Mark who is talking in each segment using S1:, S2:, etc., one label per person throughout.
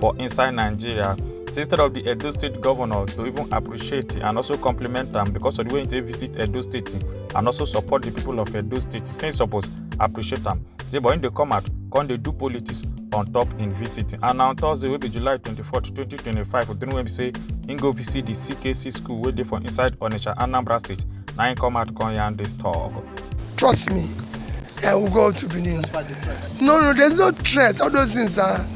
S1: for inside nigeria say instead of the edo state governor to even appreciate and also compliment am because of the way he take visit edo state and also support the people of edo state say he suppose appreciate am say but him dey come out come dey do politics on top him visit and na on thursday wey be july 24 2025 odun wey be say him go visit the ckc school wey dey for inside onitsha anambra state na him come out come yarn this talk. Trust
S2: me, I will go to Benin. Despite the threats. No, no, there's no threat. All those things are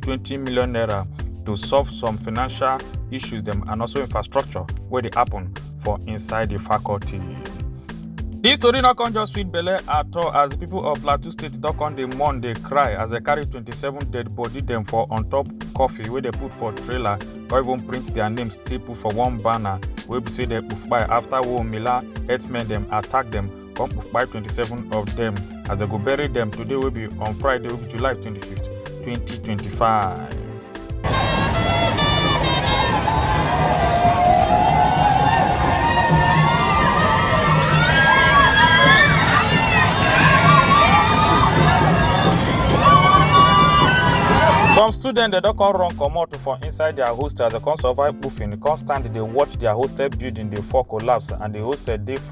S1: 20 million naira to solve some financial issues dem and also infrastructure wey dey happen for inside the faculty. Dis story no come just sweet belle at all as the people of Plateau State don come dey mourn dey cry as dem carry 27 dead body dem for on top coffee wey dem put for trailer or even print their names take put for one banner wey be say dem kpai after Womila herdsmen dem attack dem come kpai 27 of dem as dem go bury dem today wey be on friday wey be july 25th 2025. some students dem don come run comot for inside their hostel as dem come survive puffing come stand dey watch their hostel building dey fall collapse and the hostel dey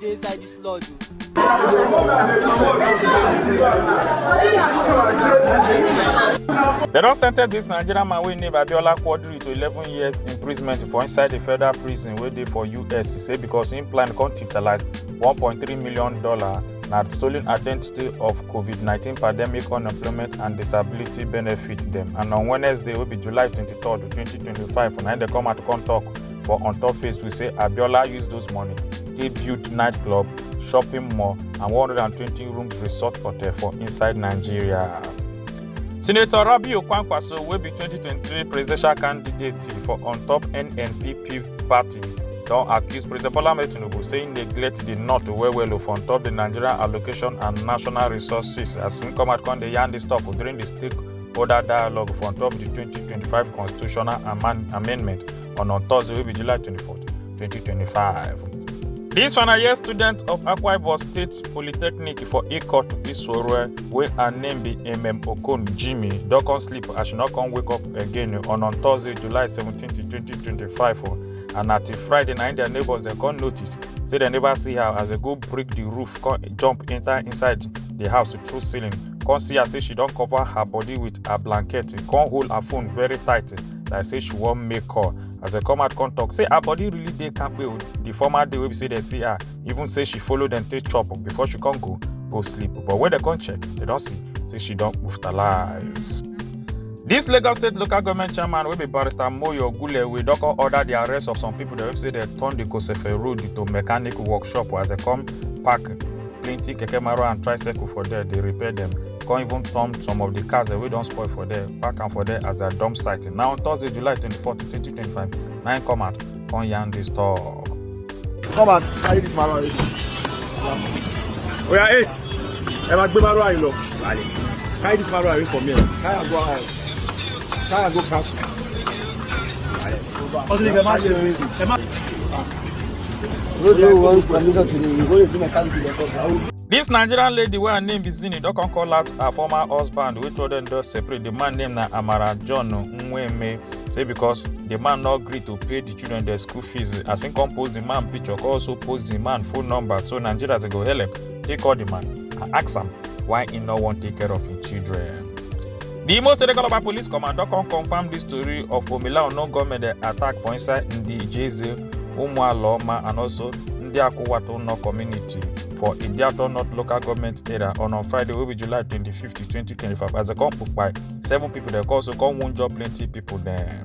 S3: dey inside this lodge
S1: o. They don sentence dis Nigerian man wey name Abiola Quadri to 11 years imprisonment for inside di federal prison wey dey for US. He say because im plan come tiftalise $1.3 million na stolen identity of COVID-19 pandemic unemployment and disability benefit dem. And on Wednesday wey be July 23, 2025 na im dey come out come tok But on top face, we say Abiola used those money, they built nightclub, shopping mall, and 120 rooms resort hotel for inside Nigeria. Senator Rabi Okwankwaso will be 2023 presidential candidate for on top NNPP party don accuse president bola ahmed tinubu say im neglect di north well well o for on top di nigerian allocation and national resources as im come out come dey yarn dis talk during di stakeholder dialogue for on top di 2025 constitutional amendment on on Thursday, will be July 24th, 2025. This final year student of Akwa Ibom State Polytechnic for Ikot Isore, where her name be MM Okon Jimmy, don't come sleep as she not come wake up again on on Thursday, July 17th, 2025. Oh. and na till friday na im their neighbours dem come notice say dem never see her as dem go break the roof come jump enter inside the house through ceiling come see her say she don cover her body with her blanket come hold her phone very tight like say she wan make call as dem come out come talk say her body really dey kampe o the former day wey be say dem see her even say she follow dem take chop before she come go go sleep but when dem come check dem don see say she don hospitalize. This Lagos State Local Government Chairman wey be Barrister Moyo Ogulewe don come order the arrest of some people dem wey be say dem turn the Kosefe Road to mechanic workshop as dem come park plenty keke marwa and tricycle for there dey repair dem come even turn some of the cars wey don spoil for there park am for there as their dump site na on thursday july 24 2025 na im come out come yarn dis talk. come and
S4: carry this marwa wey oya ace ẹ máa gbé marwa yìí lọ carry this marwa away from here carry am go out carry am go castle.
S5: ọtí ni kẹ má ṣe é ẹ má. This
S1: Nigerian lady wey her name be Zini don come call out her former husband wey told dem don separate. The man name na Amara John Nweme say because the man no gree to pay the children their school fees as him come post the man picture come also post the man phone number so Nigerians dey go help take call the man and ask am why he no wan take care of him children. di Imo State Calabar Police Command don come confam dis tori of Omila unknown gunmen dem attack for inside Ndijeze, Umualoma and also Ndiakuwatu North community for Idiato North local government area on on Friday wey be July 25, 2025 as dem come kpai seven pipo dem also come wunjure plenty pipo dem.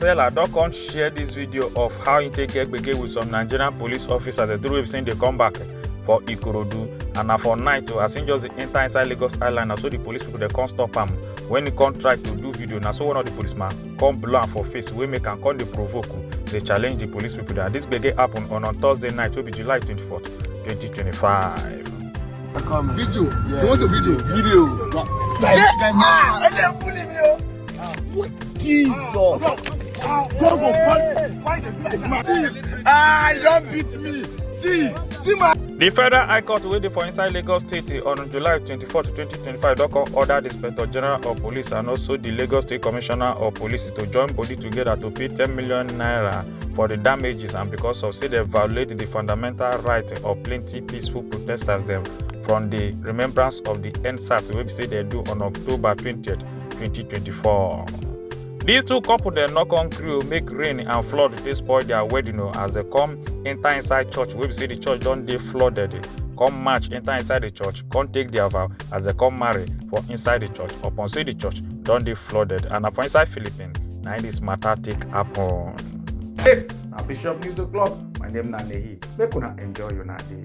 S1: Pella don come share this video of how he take get gbege with some Nigerian police officers the three wey be say dey come back for Ikorodu and na for night o as he just dey enter inside Lagos Island na so the police people dey come stop am when he come try to do video na so one of the policeman come blow am for face wey make am come dey provoke dey challenge the police people that this gbege happen on on Thursday night wey be July 24th 2025.
S6: Video. Yeah. You want a video? Video. Yeah. Yeah. Ah, Ah, what? Jesus. Ah, ah, God go fight. Why dey do like that? Ah, you don beat me. See, see my. The Federal High Court
S1: wey dey for inside Lagos State on July 24, 2025 don come order the Inspector General of Police and also the Lagos State Commissioner of Police to join body together to pay 10 million naira for the damages and because of say dem violate the fundamental right of plenty peaceful protesters dem from the remembrance of the endsars wey be say dem do on October 20th 2024. These two couple dem no come gree o make rain and flood dey spoil their wedding o as dem come enter inside church wey be say the church don dey flooded come march enter inside the church come take their vow as dem come marry for inside the church upon say the church don dey flooded and na for inside philippines na im this matter take happen.
S7: This na Bishop News O'Clock. My
S1: name
S7: na Nehi. Make una enjoy una day.